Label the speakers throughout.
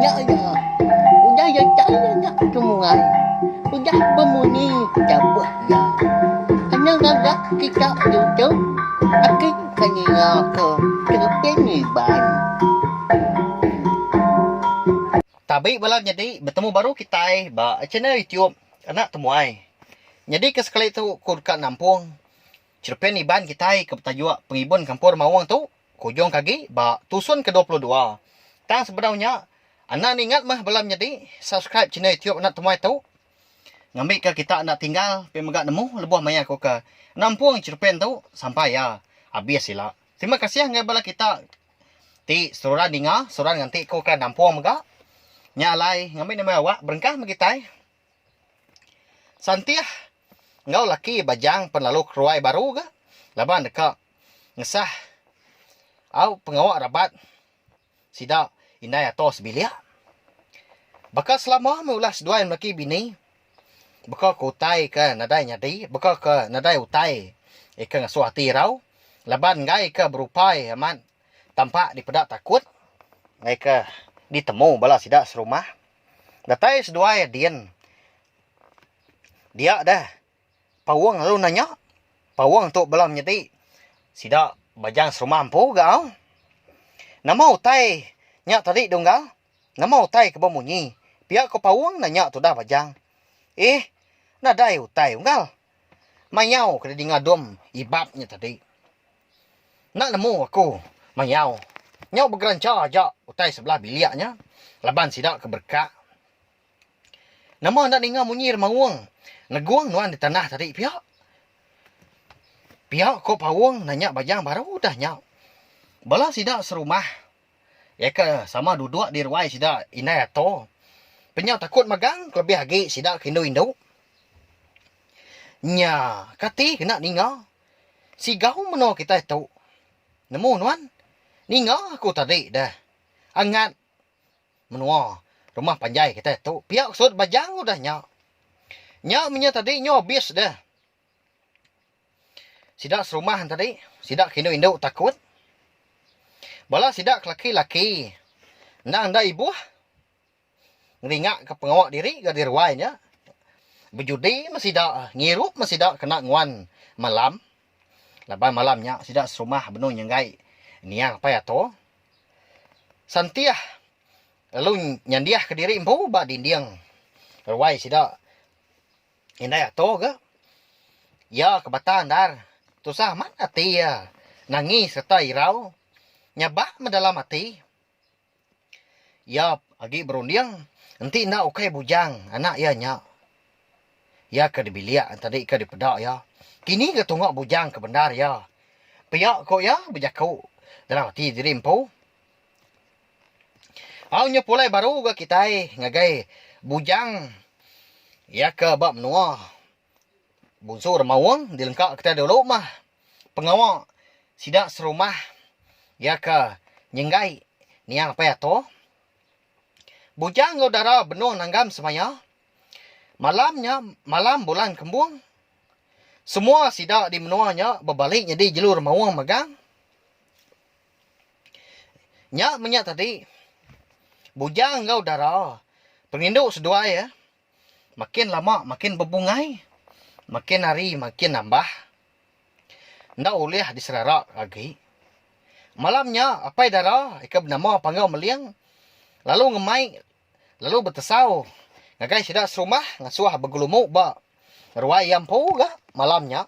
Speaker 1: Nya iya, udah iya chai nya kemuai, udah bemunyi dabuh iya. Kena ngaga kita diutuh, aki ke ninga ke tereping ngiban.
Speaker 2: Tabi bala nyadi betemu baru kitai ba channel YouTube Anak Temuai. Nyadi ke sekali tu ku deka nampung chereping iban kitai ke betajuk Pengibun Kampor Maung tu. Ku Jong Kagi ba tusun ke dua puluh dua. Tang sebedau nya, enda ningat meh bela menyedi subscribe channel YouTube Anak Temuai tu. Ngambika kita enda tinggal pia mega nemu lebuh maya ku ke nampung cherupan tu sampai iya abis ila. Terima kasih ngagai bala kita ti seruran ninga, seruran nganti ku ke nampung mega. Nya alai ngambi nama awak berengkah meh kitai. Santih enggau laki Bajang pen lalu keruai baru ga laban deka ngesah au pengawa rabat sida indai ato sebilik. Baka selama meh ulah seduai melaki bini beka ke utai ke nadai nyadi beka ke nadai utai ika ngasuh ati irau laban enggai ika berupai amat tampa dipeda takut enggai ke ditemu bala sida serumah. Datai seduai din. Dia deh. Paung lalu nanya. Paung tu bela menyadi. Sida bajang serumah empu ga au. Nama utai nya tadi Dunggal? Nama utai ke bemunyi? Pia ko Paung nanya tudah bajang. Ih, nadai utai Unggal. Mayau ke didinga Dom Ibab nya tadi. Enda nemu aku mayau. Nyau begerancha aja utai sebelah bilik nya laban sida ke bereka. Nama enda ninga munyi remaung negung nuan di tanah tadi pia? Pia ko Paung nanya Bayang baru udah nya. Bala sida serumah. Iya ke sama duduk di ruai sida indai ato. Penyau takut magang kelebih agi sida ke indu-indu. Nya, kati kena ninga? Sigau menua kitai tu. Nemu nuan? Ninga aku tadi deh. Angat menua rumah panjai kitai tu pia ke sut Bajang udah nya. Nya menya tadi nyau abis deh. Sida serumah tadi, sida ke indu indu takut. Bala sida ke laki laki endang enda ibuh ngeringa ke pengawa diri nyadi ruai nya. Bejudi meh sida, ngirup meh sida kena nguan malam. Laban malam nya sida serumah benung nyenggai niang pai ato. Sentiah lalu nyandihka diri empu ba dinding ruai sida. Indai ato ga. Iya ke bata endar. Tusah amat ati iya nangis sereta irau nyabak medalam ati. Iya agi berunding enti enda ukai bujang anak iya nya. Iya ke dibilik tadi ke dipeda iya. Kini ga tunga bujang ke bendar iya. Pia ko iya bejaku dalam ati diri empu. Au nya pulai baru ga kitai ngagai Bujang iya ke ba menua Bunsu Remaung dilengka kitai dulu mah pengawa sida serumah iya ke Nyenggai Nia Apai Ato. Bujang enggau dara benung nanggam semaya. Malam nya malam bulan kembung semua sida di menua nya bebali nyadi jelu Remaung megang. Nya menya tadi, bujang enggau dara perindu seduai eh makin lama makin bebungai, makin hari makin nambah, enda ulih diserara agi. Malam nya apai dara ke benama Panggau Meling lalu ngemai lalu betesau ngagai sida serumah ngasuh begelumu ba ruai iya empu ga malam nya.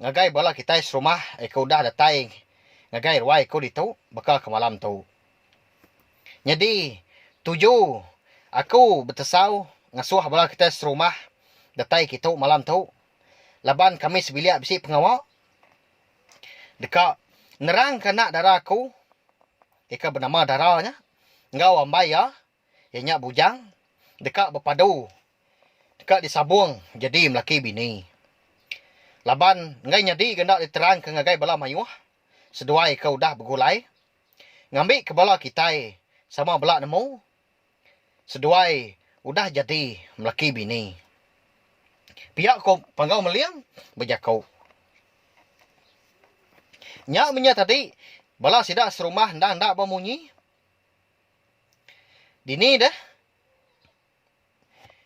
Speaker 2: Ngagai bala kitai serumah iko udah datai ngagai ruai iko ditu baka ke malam tu. Nyadi tuju aku betesau ngasoh bala kitai serumah datai kitu malam tu laban kami sebilik bisi pengawa deka nerangka anak dara aku iko benama dara nya enggau ambai iya. Iya nya bujang deka bepadu deka disabung jadi melaki bini. Laban enggai nyadi ga enda diterangka ngagai bala mayuh seduai ke udah begulai ngambika bala kitai sama bela nemu seduai udah jadi melaki bini. Pia ko Panggau Meling bejaku. Nya menya tadi bala sida serumah endang enda bemunyi. Dini deh?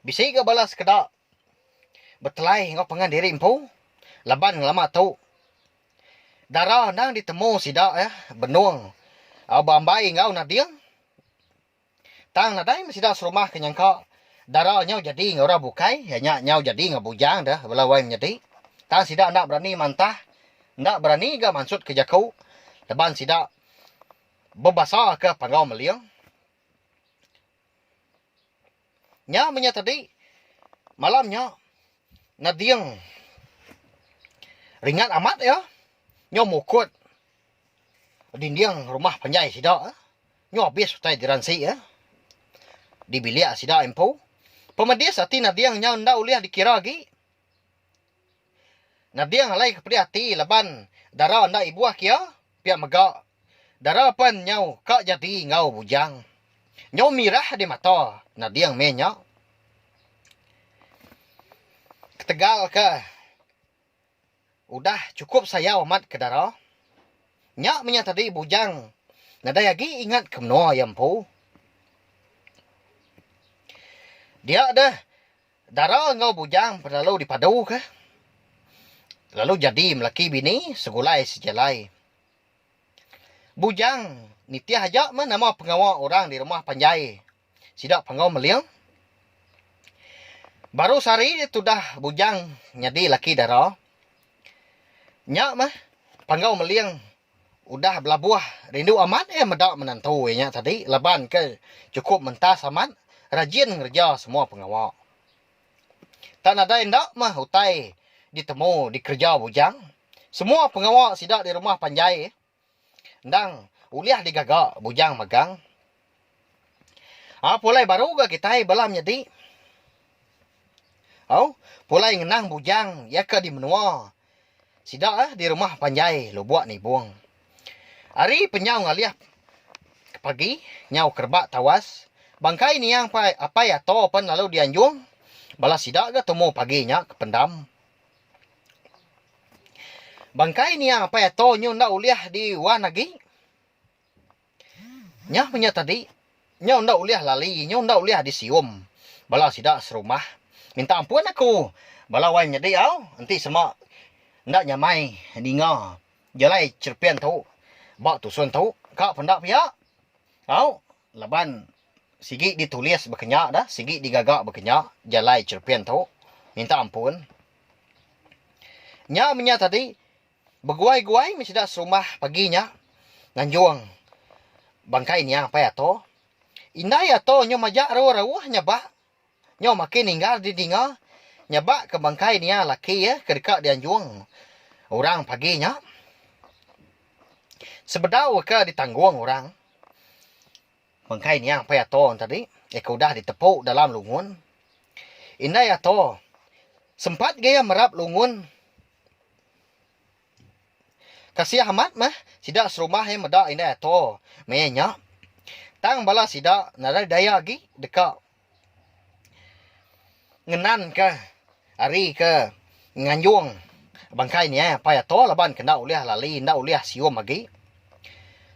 Speaker 2: Bisi ga bala sekeda betelai enggau pangan diri empu laban ngelama tu dara endang ditemu sida eh benung au beambai enggau nading. Tang nadai meh sida serumah ke nyangka dara nyau jadi enggau orang bukai iya nya nyau jadi enggau bujang deh bala wai menyadi. Tang sida enda berani mantah enda berani ga mansut ke jaku laban sida. Bebasaka Panggau Meling, nya menya tadi malam nya nading ringat amat iya nyau mukut dinding rumah panjai sida nyau abis utai diransi iya di bilik sida empu. Pemedis ati nading nya enda ulih dikira agi. Nading alai ke pedih ati laban dara enda ibuh kia, pia mega dara pen nyau ka jadi enggau bujang. Nyau mirah di mata nading meh nya. Ketegal ke udah chukup sayau amat ke dara, nya menya tadi bujang nadai agi ingat ke menoa iya empu. Dia deh. Dara enggau bujang lalu dipaduka lalu jadi melaki bini segulai sejalai. Bujang nitih aja meh nama pengawa orang di rumah panjai sida Panggau Meling. Baru sehari tudah bujang nyadi laki dara nya meh Panggau Meling Udah belabuh rindu amat iya meda menantu iya nya tadi laban ke chukup mentas amat rajin ngereja semua pengawa. Tang nadai enda meh utai ditemu dikereja bujang. Semua pengawa sida di rumah panjai endang ulih digaga bujang magang. Au pulai baru ga kitai bala menyadi. Au pulai ngenang bujang iya ke di menua sida di rumah panjai Lubok Nibong. Ari penyau ngalih ke pagi nyau ke rebak tawas bangkai nia pai Apai Ato pen lalu di anjung bala sida ga tumu pagi nya ke pendam. Bangkai nia Apai Ato nyu enda ulih di wan agi. Nyau nya tadi, nyau enda ulih lali, nyau enda ulih disium bala sida serumah. Minta ampun aku bala wai nyadi au, enti sema enda nyamai ninga jalai cherepin tu ba tusun tu ka penda pia au laban sigi ditulis bakanya da, sigi digaga bakanya jalai cherepin tu. Minta ampun. Nyau nya tadi, Beguai-guai meh sida serumah pagi nya nganjung bangkai Nia Apai Ato. Indai Ato nyau majak rauh-rauh nyabak nyau makin ninggal di dinga nyabak ke bangkai nia laki iya ke deka dianjung orang pagi nya sebedau ke ditanggung orang. Bengkai nya Empai Ato enti ari iya ke udah ditepu dalam lungun. Indai Ato sempat ga iya merap lungun. Kasih amat meh sida serumah iya meda Indai Ato maya nya. Tang bala sida nadai daya agi deka ngenanka ari ke nganjung bangkai nya Apai Ato laban ke enda ulih lali enda ulih sium agi.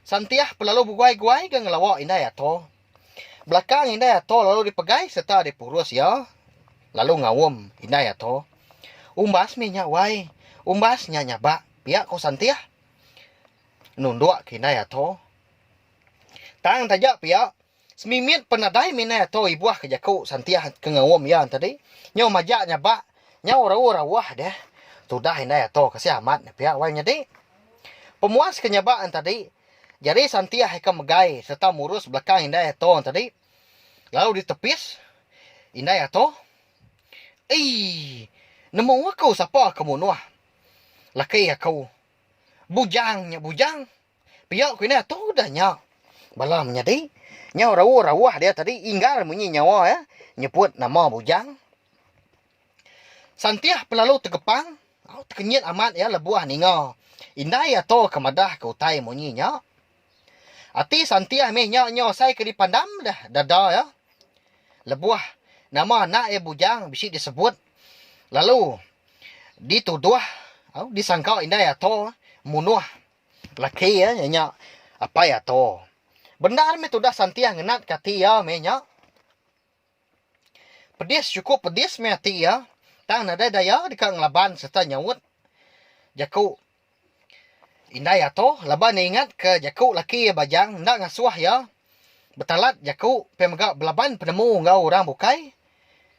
Speaker 2: Santih belalu beguai-guai ga ngelawa Indai Ato. Belakang Indai Ato lalu dipegai sereta dipurus iya lalu ngaum Indai Ato. Umbas mih nya wai, umbas nya nyabak, pia ku Santih nunduk ke Indai Ato. Tang taja pia. Semimit pen nadai minai ato ibuh ke jaku Santiah ke ngaum iya tadi. Nyau majak nya ba, nyau raur auh deh. Tudah indai ato ke sia amat ne pia wai nyadi. Pemuas ke nya ba tadi, jari Santiah ika megai serta murus belakang indai ato tadi lalu ditepis indai ato. Eii. Nemu aku sapa ke munuh laki aku. Bujang nya bujang. Pia ku indah tu udah nya. Bala menyadi nyau rauh-rauh dia tadi inggar munyi nyawa iya nyebut nama Bujang. Santih pelalu tegepang, au tekenyit amat iya lebuh ninga indai atur ke madahka utai munyi nya. Ati Santih mih nya nyau asai ke dipandam deh dada iya lebuh nama anak iya Bujang bisi disebut lalu dituduh au disangka indai atur munuh. Laki iya nya apai Ato. Bendar meh tudah Santiah ngenatka ati iya meh nya. Pedis chukup pedis meh ati iya tang nadai daya deka ngelaban sereta nyaut jaku indai Ato laban iya ingatka jaku laki iya Bajang enda ngasuh iya betalat jaku pia mega belaban penemu enggau orang bukai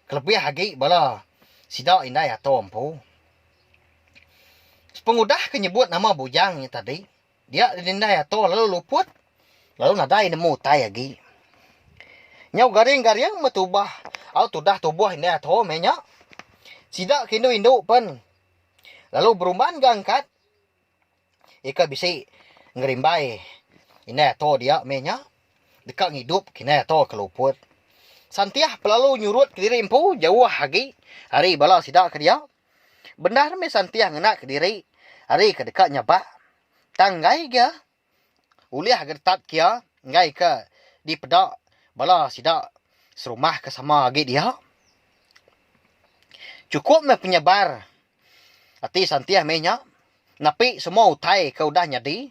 Speaker 2: kelebih agi bala sida indai Ato empu. Pengudah ke nyebut nama bujang nya tadi dia didindai ato lalu luput lalu nadai nemu utai agi. Nyau garing-garing meh tubah au tudah tubuh indai ato meh nya. Sida ke indu-indu pen lalu berumban ga angkat. Ika bisi ngerimbai indai ato dia meh nya. Deka ngidup ke indai ato ke luput. Santiah pelalu nyurut kediri empu jauh agi ari bala sida ke dia. Bendar meh Santiah ngena kediri ari ke deka nyabak. Tang enggai ga. Ulih geretat kia enggai ke dipeda bala sida serumah ke sama agi dia. Chukup meh penyabar ati Santih meh nya nepi semua utai ke udah nyadi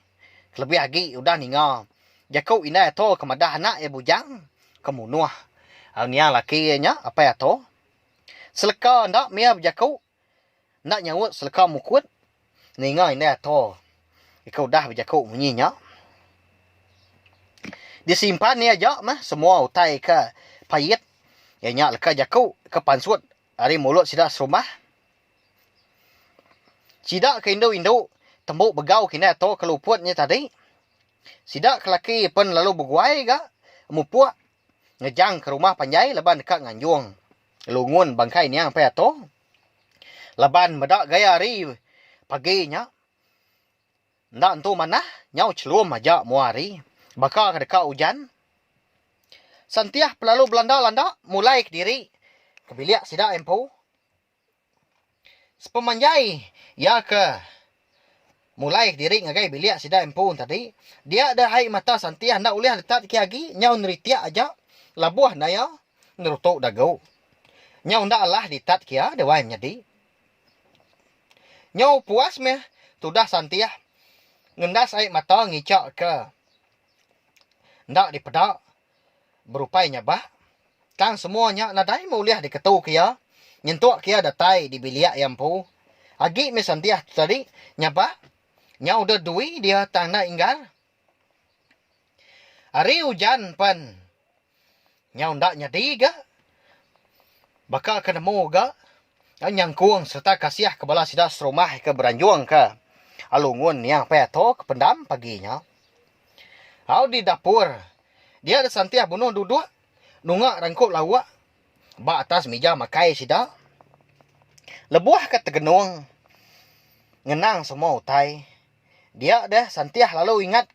Speaker 2: kelebih agi udah ninga jaku indai ato ke madah anak iya bujang ke munuh au nia laki iya nya Apai Ato. Seleka enda mia bejaku Enda nyaut seleka mukut ninga indai ato ika udah bejaku munyi nya. Disimpan iya aja meh semua utai ika pait iya nya leka jaku ke pansut ari mulut sida serumah. Sida ke indu-indu tembu begau ke indai ato ke luput nya tadi. Sida ke laki pen lalu beguai ga mupuk ngejang ke rumah panjai laban deka nganjung lungun bangkai niang Pai Ato laban meda gaya hari pagi nya enda entu manah nyau chelum aja mua hari baka ke deka ujan Sentiah pelalu belanda-landa mulai kediri ke bilik sida empu. Sepemanjai iya ke mulai kediri ngagai bilik sida empu tadi, dia deh ai mata santih enda ulih letat kiye agi nyau neritik aja labuh enda iya ngerutu dagu. Nyau enda alah ditat kiye dewan nyadi. Nyau puas meh tudah santih ngendas ai mata ngichakka enda dipeda. Berupai nya bah, tang semua nya nadai meh ulih diketuka iya nyentuk iya datai di bilik iya empu. Agi meh Santiah tu tadi nya bah, nya udah dui dia tang enda inggar. Hari ujan pen nya enda nyadi ga. Baka ke nemu ga au nyangkung sereta kasih ke bala sida serumah ke beranjung ka alu ngun nia pai atur ke pendam pagi nya. Au di dapur. Dia Santih bunuh duduk nunga rengkup lauk ba atas mija makai sida. Lebuh ka tegenung ngenang semua utai. Dia deh Santih lalu ingat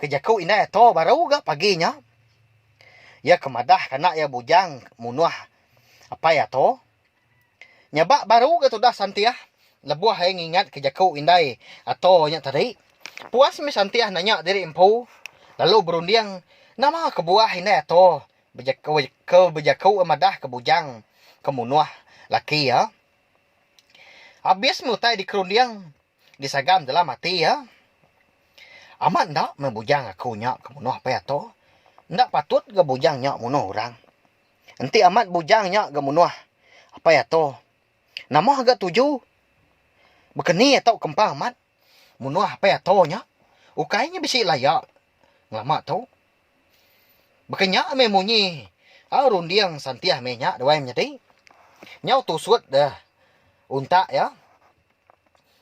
Speaker 2: ke jaku indai ato baru ga pagi nya. Iya ke madah ke anak iya bujang munuh apai ato. Nyabak baru ga tudah Santiah lebuh ai ngingat ke jaku indai Ato nya tadi. Puas mih Santiah nanya diri empu lalu berunding nama kebuah indai Ato ke bejaku madah ke bujang ke munuh laki iya. Abis mih utai dikerunding disagam dalam ati iya, Amat enda meh bujang aku nya ke munuh Apai Ato. Enda patut ga bujang nya munuh orang. Enti amat bujang nya ga munuh. Apai ato. Nama ga tuju? Bekeni ato kempa amat munuh apai ato nya. Ukai nya bisi laya ngelama tu. Baka nya meh munyi au runding santih meh nya duai menyadi. Nyau tusut deh untak iya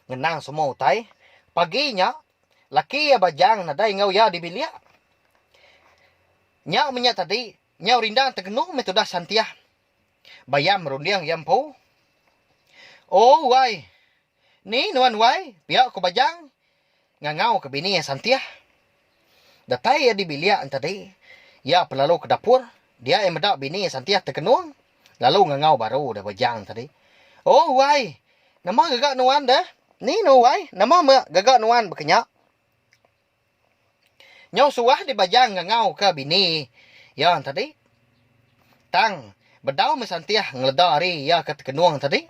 Speaker 2: ngenang semua utai. Pagi nya laki iya Bajang nadai enggau iya di bilik. Nya meh nya tadi Nyau rindang tegenung meh tudah Santiah. Bayam merunding iya empu. Oh wai. Ni nuan wai, pia ku Bajang ngangau ke bini iya Santiah. Datai iya di bilik entadi, iya pun lalu ke dapur. Dia iya meda bini iya Santiah tegenung lalu ngangau baru deh Bajang tadi. Oh wai. Nama gaga nuan deh? Ni nuan wai, nama meh gaga nuan baka nya? Nyau suah dibajang ngangau ka bini iya tadi. Tang bedau meh santih ngeleda ari iya ka tekenung tadi.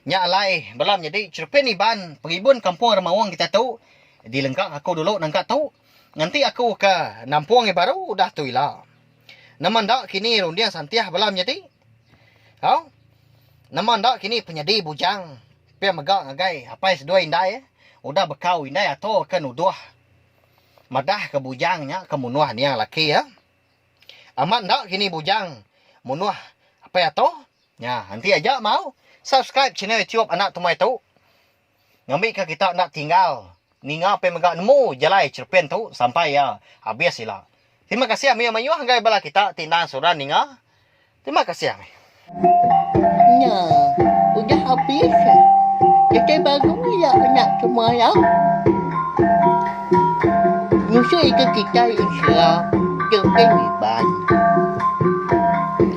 Speaker 2: Nya alai bela menyadi cherepin Iban pengibun kampung Remaung kita tu dilengka aku dulu nangka tu nganti aku ka nampung iya baru udah tu ila. Nama enda kini runding santih bela menyadi. Au. Nama enda kini penyedi bujang pia mega ngagai apai seduai indai udah bekau indai ato ke nuduh madah ke bujang nya ke munuh nia laki iya. Amat enda kini bujang munuh apai ato. Nya enti aja mau subscribe channel YouTube anak tumai tu. ngambika kita enda tinggal ninga pia mega nemu jalai cherepin tu sampai iya habis ila. Terima kasih mayuh mayuh enggai bala kita ti endang suran ninga. Terima kasih amih.
Speaker 1: Nya udah habis. Kitai bangun iya nya cuma iya. Musuh ika kitai Israel ke pengui pan.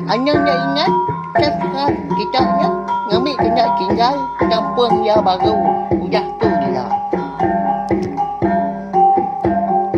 Speaker 1: Anang nya ingat sastra kita nya ngambi kena tinggal kampung iya baru udah tu ila.